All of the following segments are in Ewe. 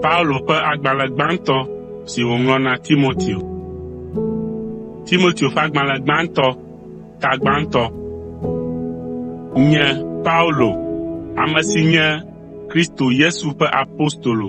Paulo ƒe agbalẽ gbãtɔ si wòŋlɔ na Timoteo. Timoteo ƒe agbalẽ gbãtɔ, tagbãtɔ. Nye Paulo, ame si nye Kristo Yesu ƒe apostolo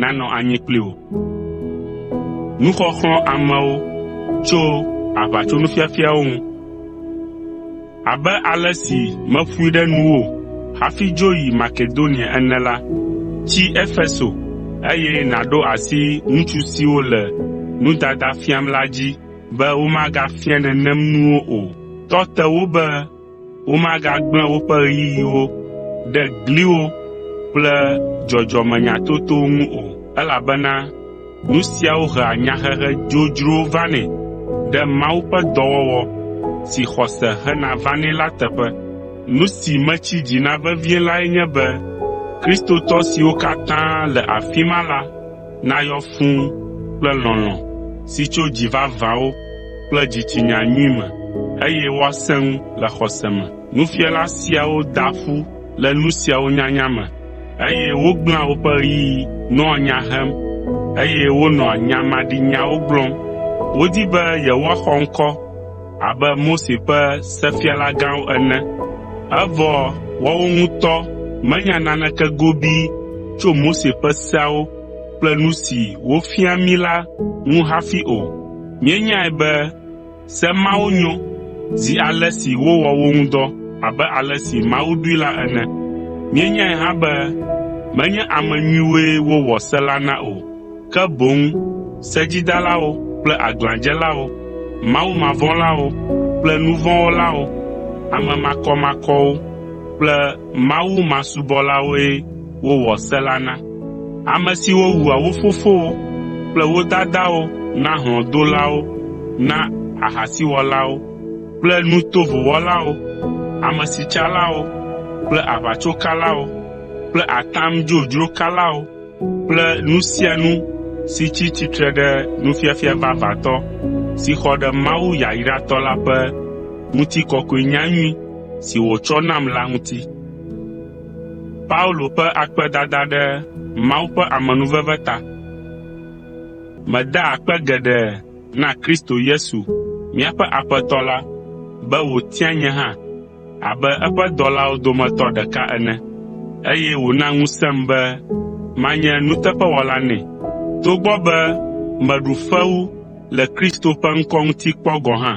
nanɔ anyi kpli wò. Nuxɔxlɔ̃ amewo tso aʋatsonufiafiawo ŋu. Abe ale si meƒoe ɖe nuwò hafi dzo yi Makedonia ene la, tsi Efeso eye nàɖo asi ŋutsu siwo le nudada fiam la dzi be womagafia nenem nuwo o. Tɔ te wo be Womagagblẽ woƒe ɣeyiɣiwo ɖe gliwo kple dzɔdzɔmenyatotowo ŋu o, elabena nu siawo hea nyahehe dzodzrowo vanɛ ɖe Mawu ƒe dɔwɔwɔ si xɔse hena vanɛ la teƒe. Nu si metsi dzi na vevie lae nye be Kristotɔ siwo katã le afi ma la nayɔ fũu kple lɔlɔ̃ si tso dzi vavãwo kple dzitsinya nyui me, eye woasẽ ŋu le xɔse me. Nufiala siawo daa ƒu le nu siawo nyanya me, eye wogblẽa woƒe ɣeyiɣi nɔa nya hem, eye wonɔa nya maɖinyawo gblɔm. Wodi be yewoaxɔ ŋkɔ, abe Mose ƒe sefialagãwo ene. Evɔ woawo ŋutɔ menya naneke gobii tso Mose ƒe seawo kple nu si wofia mí la ŋu hafi o. Míenyae be se mawo nyo zi ale si wowɔ wo ŋu dɔ abe ale si Mawu ɖoe la ene. Míenyae hã be menye ame nyuiwoe wowɔ se la na o. ke boŋ sedzidalawo kple aglãdzelawo, mawumavɔ̃lawo kple nu vɔ̃ wɔlawo, ame makɔmakɔwo kple mawumasubɔlawoe wowɔ se la na, ame siwo wua wo fofowo kple wo dadawo na hlɔ̃dolawo, na ahasiwɔlawo kple nu tovo wɔlawo, amesitsalawo kple aʋatsokalawo kple atam dzodzro kalawo, kple nu sia nu si tsi tsitre ɖe nufiafia vavãtɔ si xɔ ɖe Mawu yayratɔ la ƒe ŋutikɔkɔe nyanyui si wòtsɔ nam la ŋuti. Meda akpe geɖe na Kristo Yesu míaƒe Aƒetɔ la be wòtia nye hã abe eƒe dɔlawo dometɔ ɖeka ene, eye wòna ŋusẽm be manye nuteƒewɔla nɛ, togbɔ be meɖu fewu le Kristo ƒe ŋkɔ ŋuti kpɔ gɔ̃ hã.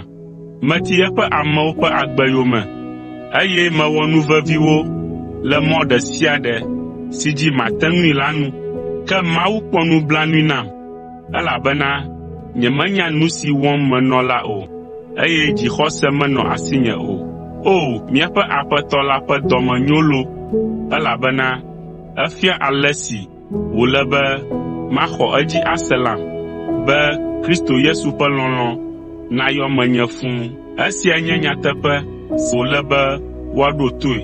Meti eƒe amewo ƒe agbe yome, eye mewɔ nu vevi wo le mɔ ɖe sia ɖe si dzi mate ŋui la nu, ke Mawu kpɔ nublanui nam. elabena nyemenya nu si wɔm menɔ la o, eye dzixɔse menɔ asinye o. O, míaƒe Aƒetɔ la ƒe dɔme nyo loo, elabena efia ale si wòle be maxɔ edzi ase lam, be Kristo Yesu ƒe lɔlɔ̃ nayɔ menye fũu. Esia nye nyateƒe si wòle be woaɖo toe.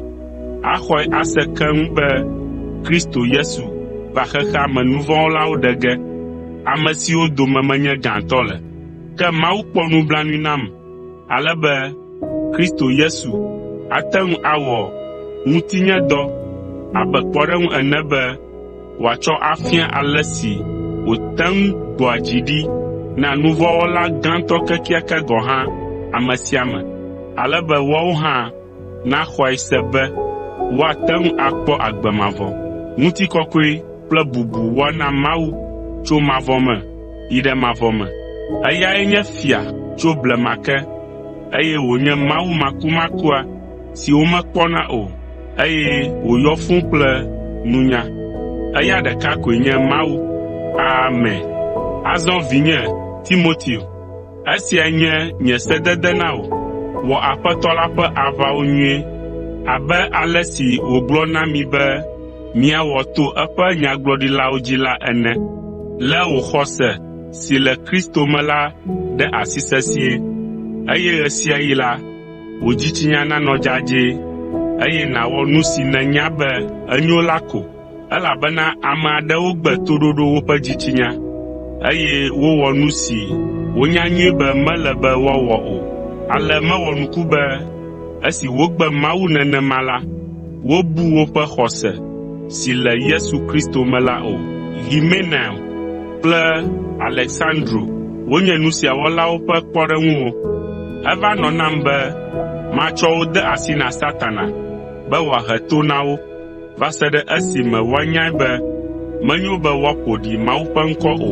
axɔe ase keŋ be Kristo Yesu va xexea me nu vɔ̃ wɔlawo ɖe ge, ame siwo dome menye gãtɔ le. Ke Mawu kpɔ nublanui nam ale be Kristo Yesu ate ŋu awɔ ŋutinyedɔ abe kpɔɖeŋu ene be wòatsɔ afia ale si wòte ŋu gbɔa dzi ɖi na nu vɔ̃ wɔla gãtɔ kekeake gɔ̃ hã ame sia ame, ale be woawo hã naxɔe se be woate ŋu akpɔ agbe mavɔ, ŋutikɔkɔe kple bubu woana Mawu tso mavɔ me yi ɖe mavɔ me. Eyae nye Fia tso blema ke, eye wònye Mawu makumakua si womekpɔna o, eye wòyɔ fũu kple nunya. Eya ɖeka koe nye Mawu. Amen. Azɔ vinye Timoteo, Esia nye nye sedede na wò, Wɔ Aƒetɔ la ƒe aʋawo nyuie, abe ale si wògblɔ na mi be miawɔ to eƒe nyagblɔɖilawo dzi la ene. Lé wò xɔse si le Kristo me la ɖe asi sesĩe, eye ɣe sia ɣi la, wò dzitsinya nanɔ dzadzɛ, eye nàwɔ nu si nènya be enyo la ko. Elabena ame aɖewo gbe toɖoɖo woƒe dzitsinya, eye wowɔ nu si wonya nyuie be mele be woawɔ o. Ale mewɔ nuku be esi wogbe Mawu nenema la, wobu woƒe xɔse si le Yesu Kristo me la o. Himenaio kple Aleksandro wonye nu sia wɔlawo ƒe kpɔɖeŋuwo. Eva nɔ nam be matsɔ wo de asi na Satana be wòahe to na wo. va se ɖe esime woanyae be menyo be woaƒo ɖi Mawu ƒe ŋkɔ o.